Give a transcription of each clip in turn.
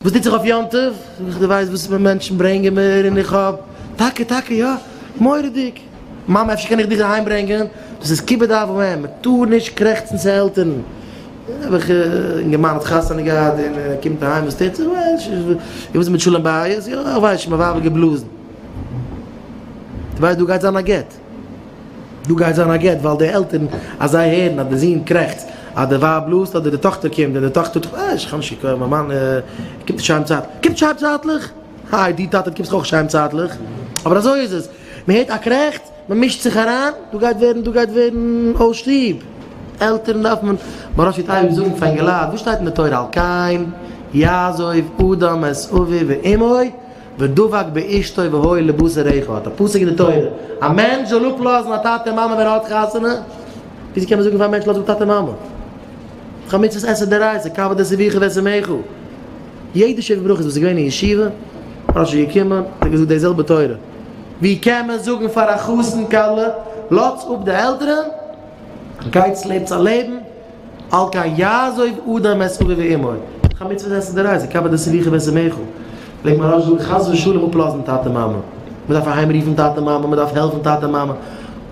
וואס טוט זיך אויף יום טוב? זאג איך, דו ווייסט וואס פאר מענטשן ברענגען מיר און איך האב, טאקע טאקע יא, מורא'דיג! מאמע אפשר קען איך דיך אהיים ברענגען? דאס איז כיבוד אב ואם, מען טאר נישט קרעכצן צו עלטערן. האב איך, אינגערמאן האט חתונה געהאט און ער קומט אהיים וואס טוט זיך? און וואס איז מיט שלום בית? יא איך ווייס שוין, מיין ווייב האט געבלאזן. דו ווייסט דא גייט זיין א גט? דא גייט זיין א גט ווייל די עלטערן אז זיי הערן אז די זון קרעכצט אז די ווייב בלאזט אדער די טאכטער קומט און די טאכטער טוט אה איך האב נישט געקויפט מיין מאן קומט נישט אהיים צייט קומט נישט אהיים צייטליך איי דו טאטע דו קומסט דאך אויך נישט אהיים צייטליך אבער אזוי איז עס מען הערט א קרעכץ מען מישט זיך אריין דא גייט ווערן דא גייט ווערן אויס שטוב עלטערן דארף מען מרא שיט אייביג זאגן פאר אינגעלייט וואס שטייט אין די תורה על כן יעזוב אדם את אביו ואמו ודבק באשתו והוי לבשר אחד, האט א פסוק אין די תורה, א מענטש זאל אפלאזן א טאטע און מאמע ווען ער האט חתונה? וויאזוי קען מען זאגן פאר א מענטש לאז אפ טאטע און מאמע? דאך א מצוות עשה דאורייתא, כבד את אביך ואת אמך. יעדע שבע ברכות וואס איז געווען אין ישיבה, פאר ש י געקומען, האט ער געזאגט די זעלבע תורה. ווי קען מען זאגן פאר א חתן כלה, לאטס אפ די עלטערען, גייטס לעבטס א לעבן, על כן יעזוב אדם את אביו ואמו, איך האב מצוה זעצן די רייזע, קבר די סביכה ווען ס'מעכל, וועגן מיין ראש זאגן חס ושלום אפלאזן טאטע מאמע, מ'דארף אהיים רופן טאטע מאמע, מ'דארף העלפן טאטע מאמע,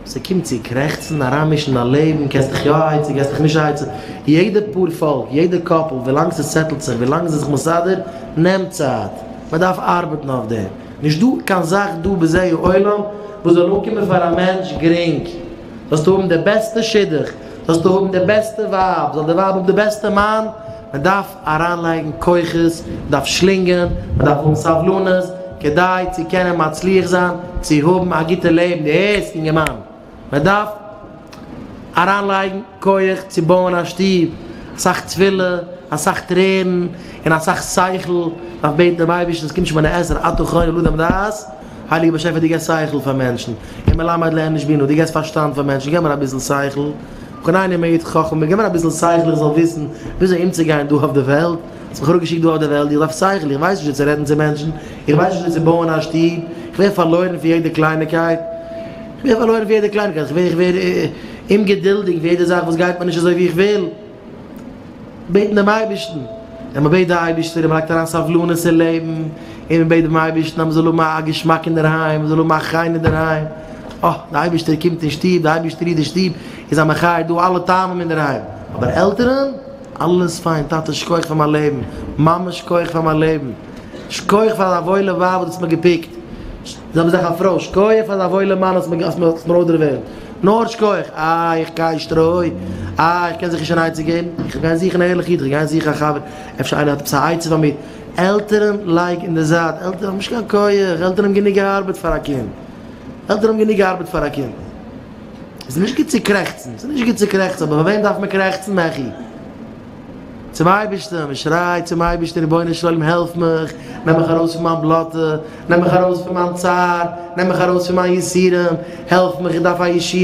ס'קומט צו קרעכצן, אריינמישן אין א לעבן, קענסט דיך יא א עצה, געסט דיך נישט א עצה, יעדע פאר פאלק, יעדע קאפל, ווילאנג ס'סעטלט זיך, ווילאנג ס'איז זיך מסדר, נעמט צייט, מ'דארף ארבעטן אויף דעם, נישטא קיין זאך דא בזה העולם וואס זאל אנקומען פאר א מענטש גרינג. זאלסטו האבן די בעסטע שידוך, זאלסטו האבן די בעסטע ווייב, זאל די ווייב האבן די בעסטע מאן, מען דארף אריינלייגן כוחות, מען דארף שלינגען, מען דארף האבן סבלנות, כדי צו קענען מצליח זיין צו האבן א גוטע לעבן, דו הערסט אינגערמאן? מען דארף אריינלייגן כח צו בויען א שטוב, אסאך תפילה, אסאך טרערן, און אסאך שכל, מען דארף בעטן דעם אייבערשטן, עס קומט שוין מן העזר, אתה חונן לאדם דעת. הייליגער באשעפער דו געסט שכל פאר מענטשן, און מלמד לאנוש בינה, דו געסט פארשטאנד פאר מענטשן, געב מיר אביסל שכל, חנני מעיד חכמה, געב מיר אביסל שכל איך זאל וויסן וויאזוי אומצוגיין דא אויף די וועלט, האסט מיך אראפגעשיקט דא אויף די וועלט, איך דארף שכל, איך ווייס נישט ווי צו רעדן צו מענטשן, איך ווייס נישט ווי צו בויען א שטוב, איך ווער פארלוירן פון יעדע קלייניקייט, איך ווער פארלוירן פון יעדע קלייניקייט, איך ווער אומגעדולדיג פון יעדע זאך וואס גייט מיר נישט אזוי ווי איך וויל. בעטן דעם אייבערשטן, און מען בעט די אייבערשטער און מען לייגט אריין סבלנות אין לעבן, און מען בעט דעם אייבערשטן אז מען זאל האבן א געשמאק אינדערהיים, מען זאל האבן א חן אינדערהיים, אה, דער אייבערשטער קומט אין שטוב, דער אייבערשטער איז דער שטוב, איז א מחיה דא אלע טעמים אינדערהיים, אבער עלטערן? אלעס פיין, טאטע שכח פאר מיין לעבן, מאמע שכח פאר מיין לעבן, שכח פאר דיין וואוילע ווייב וואס דו האסט מיר געפיקט, זיי האבן זיך א פרוי, שכח פאר דיין וואוילע מאן האסט מיר אויסדערוועלט. נאר שכוח, אה, איך גיי שטרוי, אה, איך קען זיך נישט אן עצה געבן, איך גיי זוכן א ערליכע איד, איך גיי זוכן א חבר, אפשר איינער האט עפעס א עצה פאר מיר, עלטערן לייג אין די זייט, עלטערן האבן נישט קיין כח, עלטערן האבן גענוג ארבעט פאר א קינד, עלטערן האבן גענוג ארבעט פאר א קינד. עס איז נישט גוט צו קרעכצן, עס איז נישט גוט צו קרעכצן, אבער פאר וועם דארף מען קרעכצן מעכי? צום אייבערשטן, מען שרייט צום אייבערשטן, רבונו של עולם העלף מיך, נעם מיך ארויס פון מיין בלאטע, נעם מיך ארויס פון מיין צער, נעם מיך ארויס פון מיין יסורים, העלף מיך איך דארף א ישועה.